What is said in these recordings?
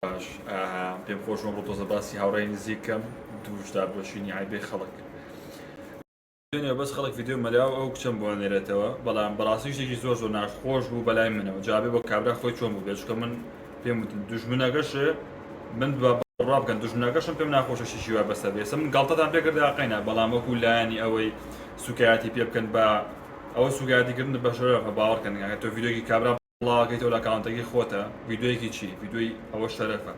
باش پێم خۆش ئەمڕۆ تۆزە باسی هاوڕێی نزیکەم دووش دابۆشینی عیبێ خەڵک دوێنێ بەس خەڵک ڤیددیو مەلا و ئەو کچەم بۆ نێرێتەوە بەڵام بەڕاستی شتێکی زۆر زۆر ناخۆش بوو بەلای منەوە جابێ بۆ کابرا خۆی چۆن بوو بێچکە من پێم وتن دوژمنەکەش من دوبا بڕا بکەن دوژمنەکەشم پێم ناخۆشە شیشی وا بەسەر بێسە من گاڵتەتان پێکردا قەینا بەڵام وەکو لایەنی ئەوەی سوکایەتی پێ بکەن بە ئەوە سوگایەتیکردن بە شەرەفە باوەڕکەن هەتۆ ڤیدیۆکی کابرا بڵاوەکەی تۆ لە ئەکاونتەکەی خۆتە ڤیدیۆیەکی چی ڤیدیۆی ئەوە شەرەفە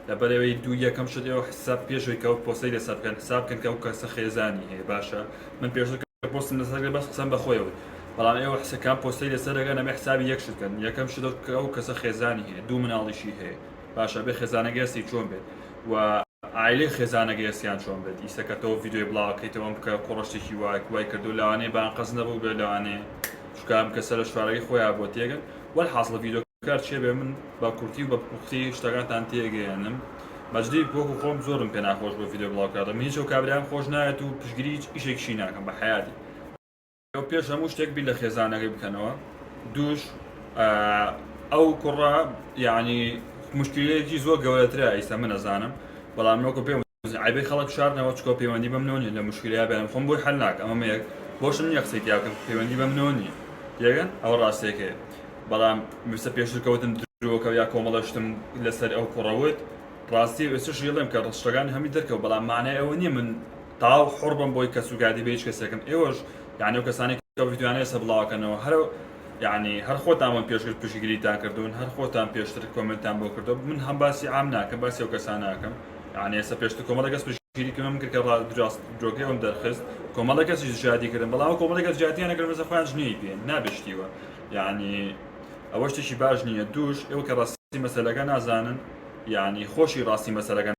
لەبەر ئەوەی دوو یەکەم شت ئێوە حساب پێشەوەی کە ئەو پۆستەی لەسەر بکەن حساب بکەن کە ئەو کەسە خێزانی هەیە باشە من پێشتر کە پۆستم لەسەر کرد بەس قسەم بە خۆی بوو بەڵام ئێوە حساب کام پۆستەی لەسەر دەکەن ئەبێ حسابی یەک شت بکەن یەکەم شت ئەو کە ئەو کەسە خێزانی هەیە دوو مناڵیشی هەیە باشە بێ خێزانەکەی هەستی چۆن بێت و عایلەی خێزانەکەی هەستیان چۆن بێت ئیسە کە تۆ ڤیدیۆی بڵاوەکەیتەوە ئەم کە کوڕە شتێکی وایە وای کردو لەوانەیە بانقەز نەبوو بێ لەوانەیە چونکە ئەم کەسە لە شارەکەی خۆیان بۆ تێگەن وەلحاسڵ ڤیدۆکار چێ بێ من بە کورتی و بە پوختی شتەکانتان تێگەیەنم بەجدی وەکو خۆم زۆرم پێ ناخۆش بۆ ڤیدۆ بڵاو کردن من هیچ ئەو کابرایەم خۆش ناوێت و پشگیری هیچ ئیشێکیشی ناکەم بە حەیاتی ئێوە پێش هەموو شتێک بیر لە خێزانەکەی بکەنەوە دووش ئەو کوڕە یعنی مشکلەیەکی زۆر گەورەترە ئیستا من ئەزانم بەڵام وەکو پێم عەیبە خەڵک بشارنەوە چکۆ پەیوەندی بە منەوە نیە لە موشکیلەیا بەیان خۆم بۆی حەل ناکەم ئەمە مەیەک بۆشم نیە قسەی تیا بکەم پەیوەندی بە منەوە نیە تێگەن ئەوە ڕاستێکەیە بەڵام مستە پێشتر کەوتم درۆکەو یا کۆمەڵە شتم لەسەر ئەو کوڕە وت ڕاستی ئێستش یڵێم کە ڕستەکانی هەمی دەرکەوت بەڵام مانای ئەوە نیە من تاو حوڕ بم بۆی کەس و کاتی بە هیچ کەسێکم ئێوەش یانی ئەو کەسانەی کە ڤیدیۆیانە ئێستا بڵاوەکەنەوە هەر یانی هەر خۆتان بۆم پێشتر پشتگیریتان کردوون هەر خۆتان پێشتر کۆمێنتان بۆ کردووە من هەم باسی عام ناکەم باسی ئەو کەسانە ئەکەم یانی ئێستا پێشتر کۆمەڵێک کەس پشتگیری کردم کرد کە ڕاست درۆکەی ئەوم دەرخست کۆمەڵێک کەسیش شادی کردم بەڵام ئەو کۆمەڵێک کەس جاتیان نەکرد مەسە خۆیان جنێوی پێ نابێت شتیوە یعنی ئەوە شتێکی باش نییە دووش ئێوە کە ڕاستی مەسەلەکە نازانن یعنی خۆشی ڕاستی مەسەلەکە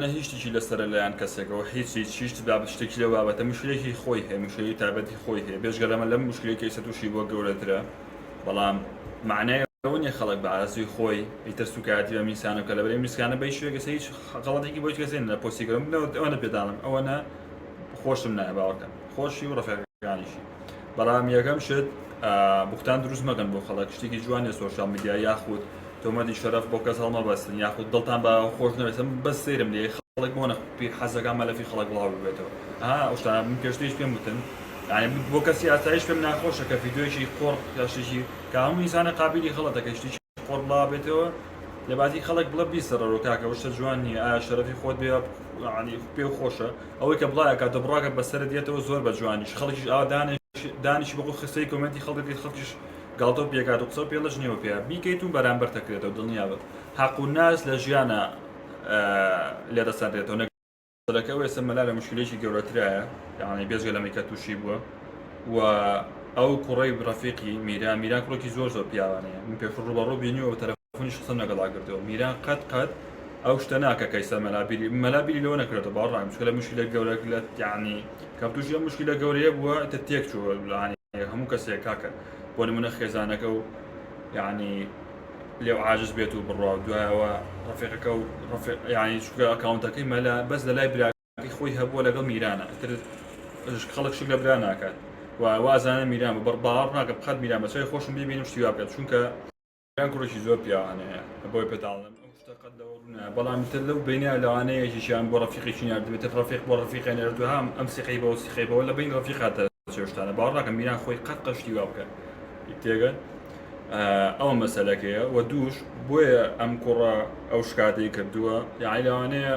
نە هیچ شتێکی لەسەرە لەلایەن کەسێکەوە هیچ هیچ هیچ شت بابەت شتێکی لەو بابەتە مشکلەیەکی خۆی هەیە مشکلەی تایبەتی خۆی هەیە بێجگە لەمە لەم مشکلەی کە ئێستا تووشی بووە گەورەترە. بەڵام مەعنای ئەوە نیە خەڵک بە ئارەزووی خۆی ئیتر سوکایەتی بەم میسکانە بکات لەبەرئەوەی میسکانە بەهیچ شوێنێک ئێستا هیچ غەڵەتێکی بۆ هیچ کەسێک نیە لە پۆستی گەورەم بنەوە ئەوەنە پێداڵم ئەوەنە خۆشم نایە باوەڕکەن خۆشی و ڕەفیقەکانیشی بەڵام یەکەم شت بوختان دروست مەکەن بۆ خەڵک شتێکی جوان نیە سۆشیاڵ میدیا یاخود تۆمەتی شەرەف بۆ کەس هەڵمەبەستن یاخود دڵتان بە خۆش نەبێت من بەس سەیرم لێ خەڵک بۆ نەخ پیر حەزەکان مەلەفی خەڵک بڵاو ببێتەوە ها ئەو شتانە من پێشتریش پێم وتن یعنی بۆ کەسی ئاسایش پێم ناخۆشە کە ڤیدیۆیەکی قۆڕ یا شتێکی کە هەموو ئینسانە قابیلی غەڵەتە کە شتێکی قۆڕ بڵاو بێتەوە لەباتی خەڵک بڵە بیسەڕەرۆ کاکە ئەو شتە جوان نییە ئایا شەرەفی خۆت بێ یعنی پێ خۆشە ئەوەی کە بڵایە کاتە بڕاکە بەسەرت دێتەوە زۆر بە جوانیش خەڵکیش ئاوا دانێ دانیشی بەخۆ خستەی کۆمێنتی خەڵکەکەی خەڵکیش گاڵتەو پێکات و قسەو پێڵەش نیەو پێ بیکەیت و بەرامبەرت ئەکرێتەوە دڵنیابە هەق و ناز لە ژیانا لێت ئەسەنرێتەوە نەک سەرەکی ئەوەی ئێستا مەلا لە موشکیلەیەکی گەورەترایە یەعنی بێجگە لەمەی کە توشی بووە و ئەو کوڕەی ڕەفیقی میران میران کوڕێکی زۆر زۆر پیاوانەیە من پێشوو ڕووبەڕوو بینیوە و تەلە. منیش قسەم لەگەڵا کردوە میران قەت قەت ئەو شتە ناکە کە ئیستا مەلا بیری مەلا بیری لەوە نەکرێتەوە باوەڕ ناکەم چونکە لە مشکلە گەورەک لە یعنی کەم تووشی ئەم مشکلە گەورەیە بووە ئیتر تێک چووە یعنی هەموو کەسێک کاکە بۆ نمونە خێزانەکە و یعنی لێو عاجز بێت و بڕوا و دوایەوە ڕەفیقەکە و ڕەفیق یعنی چونکە ئەکاونتەکەی مەلا بەس لە لای براکەی خۆی هەبووە لەگەڵ میرانە ئیتر خەڵک شک لە برا ناکات و وازانە میران بە بڕ باوەڕ ناکەم قەت میران بە چاوی خۆشم ببینم شتی وا بکات چونکە یان کوڕێکی زۆر پیاوانەیە بۆی پێتاڵم ئەو شتە قەت لەوە ڕوونە بەڵام تر لەو بینە لەوانە یەکێکیان بۆ ڕەفیقێکی ناردبێتە ڕەفیق بۆ ڕەفیقە نێردو هام ئەم سیقەی بەوە سیقەی بەوە لە بین ڕەفیقاتە چێشتانە باوەڕ ناکەم میران خۆی قەت قەشتی وا بکات تێگەن ئەوە مەسەلەکەیە و دووش بۆیە ئەم کوڕە ئەو شکاتەی کردووە یاعی لەوانەیە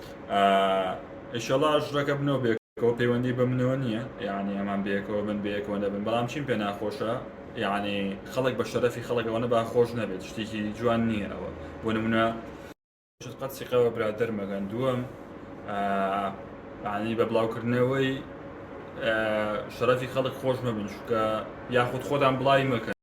ئیشەڵا ژڕەکە بنەوە بێکەوە پەیوەندی بە منەوە نییە یعنی ئەمان بێکەوە من بێکەوە نەبن بەڵام چیم پێ ناخۆشە یعنی خەڵک بە شەرەفی خەڵکەوەنە با خۆش نەبێت شتێکی جوان نییە ئەوە بۆ نمونە قەت سیقەوە برادر مەگەن دووەم عنی بە بڵاوکردنەوەی شەرەفی خەڵک خۆش مەبن چکە یاخود خۆدان بڵاوی مەکەن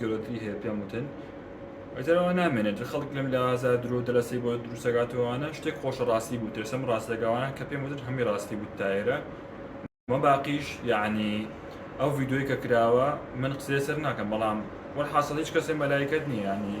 گەورەتری هەیە پێم وتن ئەجارەوە نامێنێت جە خەڵک لەم لاوازە درۆ دەلەسەی بۆ دروستەگاتەوەوانە شتێک خۆشە ڕاستی بوو تێسم ڕاستەگەوانە کە پێم وتن هەمی ڕاستی بوو تایرە مە باقیش یعنی ئەو ڤیددیوی کە کراوە من قسەی سەر ناکەم بەڵام وەرحاصل هیچ کەسێ مەلایکت نییە ینی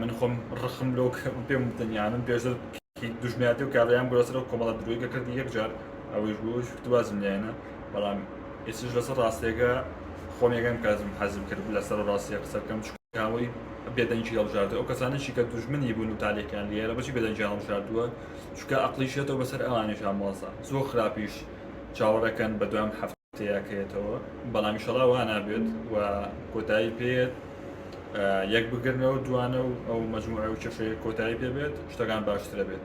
من خۆم ڕخم لۆ پێم دنیا من پێشتر دژنیاتی و کاریان گرۆسەر و کۆمەڵە درۆیگە کردی یەکجار ئەوەش بۆ شکتوازم لایەنە بەڵام ئێسش لەسەر ڕاستێکە خۆم یەکەم کازم حەزم کرد لەسەر ڕاستیە قسە بکەم چکاوەی بێدەنگی هەڵژارد ئەو کەسانەشی کە دوژمنی بوون و تالێکیان لێرە بەچی بێدەنگی هەڵژاردووە چکە ئەقلیشێتەوە بەسەر ئەوانیش ئامۆزا زۆر خراپیش چاوەڕەکەن بە دوام هەفت تێیاکەێتەوە بەڵام شەڵا وا نابێت و کۆتایی پێێت یەک بگرنەوە دوانە و ئەو مجموعە و چەشەیە کۆتایی پێ بێت شتەکان باشترە بێت